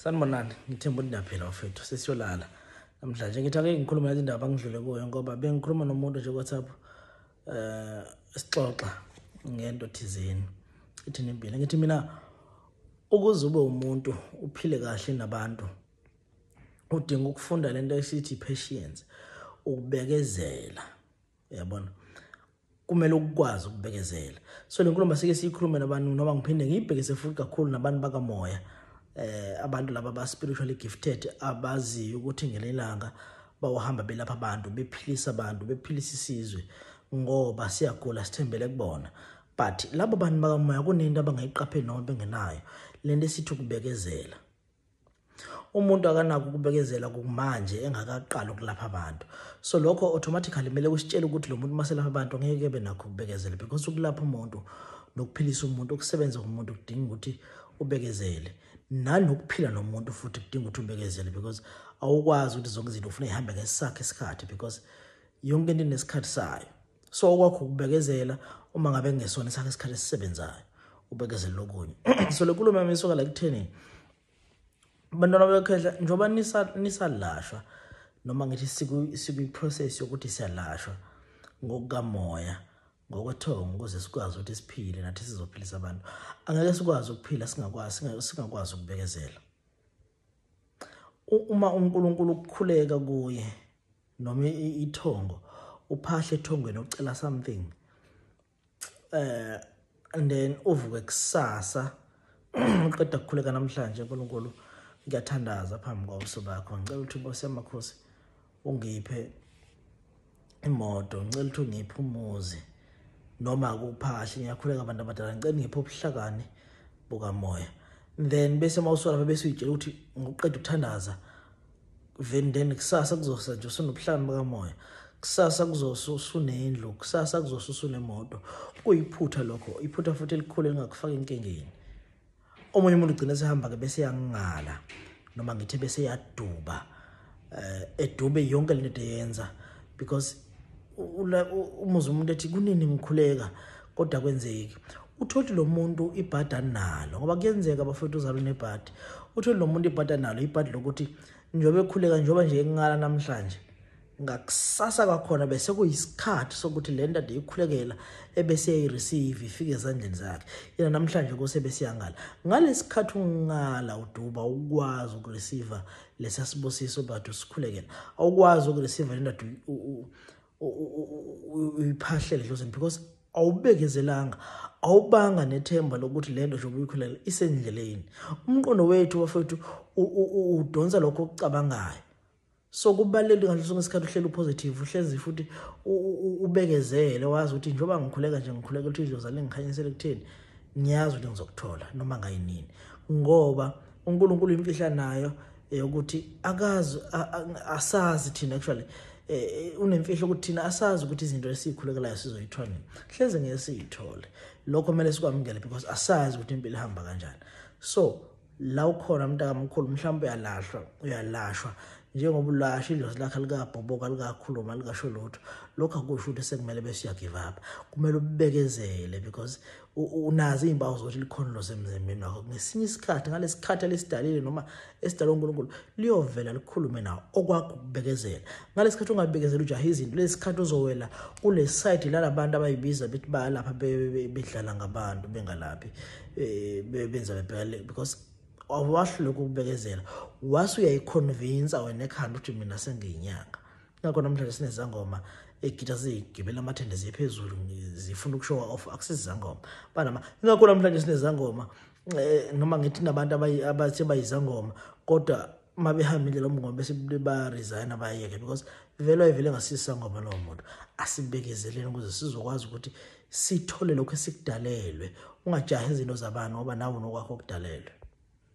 Sanibonani, ngithemba ukuthi niyaphila bafethu, sesiyolala namhlanje. Ngithi ake ngikhulume nale ndaba ngidlule kuyo ngoba bengikhuluma nomuntu nje ku-WhatsApp eh sixoxa ngento thizeni. Ithi nimpilo. Ngithi mina ukuze ube umuntu uphile kahle nabantu udinga ukufunda lento esithi patience, ukubekezela. uyabona kumele ukwazi ukubekezela so le nkulumo sike siyikhulume nabantu noma ngiphinde ngiyibhekise futhi kakhulu nabantu bakamoya eh abantu laba ba spiritually gifted abaziyo ukuthi ngelelanga bawuhamba belapha abantu bephilisa abantu bephilisa isizwe ngoba siyagula sithembele kubona but labo bantu bakamoya kunento abangayiqapheli noma bengenayo lento esithi ukubekezela umuntu akanako ukubekezela kumanje engakaqali ukulapha abantu so lokho automatically kumele kusitshele ukuthi lo muntu maselapha abantu ngeke ebe nakho ukubekezela because ukulapha umuntu nokuphilisa umuntu ukusebenza komuntu kudinga ukuthi ubekezele nanokuphila nomuntu futhi kudinga ukuthi ubekezele because awukwazi ukuthi zonke izinto ufuna ihambe ngesakhe isikhathi because yonke into inesikhathi sayo so okwakho ukubekezela uma ngabe kungesona sakhe isikhathi esisebenzayo ubekezela lokunye so le nkulumo yami isuka la kutheni bantwana bekhehla njengoba nisalashwa noma ngithi sikwi-process yokuthi siyalashwa ngokukamoya ngokwethongo ukuze sikwazi ukuthi siphile nathi sizophilisa abantu angeke sikwazi ukuphila singakwazi singakwazi ukubekezela uma uNkulunkulu ukukhuleka kuye noma ithongo uphahle ethongweni ucela something eh and then uvuke kusasa uqeda kukhuleka namhlanje uNkulunkulu ngiyathandaza phambi kwabuso bakho ngicela ukuthi inkosi yamakhosi ungiphe imoto ngicela ukuthi ungiphe umuzi noma kuphahli ngiyakhuleka abantu abadala ngicela ngiphe ubuhlakani bukamoya then bese mawusola bese uyitshela ukuthi ngokuqeda ukuthandaza then then kusasa kuzose nje usunobuhlakani bukamoya kusasa kuzose usunendlu kusasa kuzose usunemoto kuyiphutha lokho iphutha futhi elikhulu elingakufaka enkingeni omunye umuntu ugcina sehamba-ke bese yangingala noma ngithe bese yaduba um eh, edube yonke le nto eyenza because umuzi umuntu ethi kunini ngikhuleka kodwa kwenzeki utholi lo muntu ibhadi analo ngoba kuyenzeka bafowethu uzalo nebhadi utholi lo muntu ibhadi analo ibhadi lokuthi njengoba ekhuleka njengoba nje engingala namhlanje ngakusasa kwakhona bese kuyisikhathi sokuthi le nto ndiyikhulekela ebesiyayireceive ifike ezandleni zakhe yena namhlanje kuse besiyangala ngalesi khathi ungala uduba ukwazi ukureceive lesa sibusiso but usikhulekela awukwazi ukureceive le ndoda uyiphahlele dlozini because awubekezelanga awubanga nethemba lokuthi lento nje ubuyikhulela isendleleni umqondo wethu bafethu udonsa lokho okucabangayo so kubalulekile ngaso sonke isikhathi uhlele upositive uhlezi futhi ubekezele wazi ukuthi njengoba ngikhuleka nje ngikhuleka ukuthi idlozi alingikhanyisele kutheni ngiyazi ukuthi ngizokuthola noma ngayinini ngoba uNkulunkulu imfihla nayo yokuthi akazi asazi thina actually e, e, unemfihlo ukuthi thina asazi ukuthi izinto esikhulekelayo sizoyithola nini hleze ngeke siyithole lokho kumele sikwamukele because asazi ukuthi impilo ihamba kanjani so la ukhona mntakamkhulu mhlawumbe uyalahlwa uyalashwa njengoba ulasha idlozi lakhe likabhoboka likakhuluma likasho lutho lokhu akusho ukuthi sekumele bese uyagive up kumele ubekezele because unazi iy'mpawu zokuthi likhona ilozi emzimbeni wakho ngesinye isikhathi ngalesi khathi elisidalile noma esidalwe unkulunkulu liyovela likhulume nawo okwakho ukubekezela ngalesi khathi ungabekezela ujaha izinto lesi khathi uzowela kule sayidi lalabantu abayibiza bethi bayalapha bedlala ngabantu bengalaphi eh, benza bebhekale because awahluleka ukubekezela wase uyayiconvinsa wena ekhanda ukuthi mina sengiyinyanga ngakho namhlanje sinezangoma egita zigibela amathende ziye phezulu zifuna ukushowa off akusizangoma banama ngakho namhlanje sinezangoma eh, noma ngithi nabantu abathi bayizangoma kodwa uma behambile lo mngoma bese baresigna bayeke because vele ayivele ngasisa ngoba lowo muntu asibekezeleni ukuze sizokwazi ukuthi sithole lokho esikudalelwe ungajahi izinto zabani ngoba nawe nokwakho okudalelwe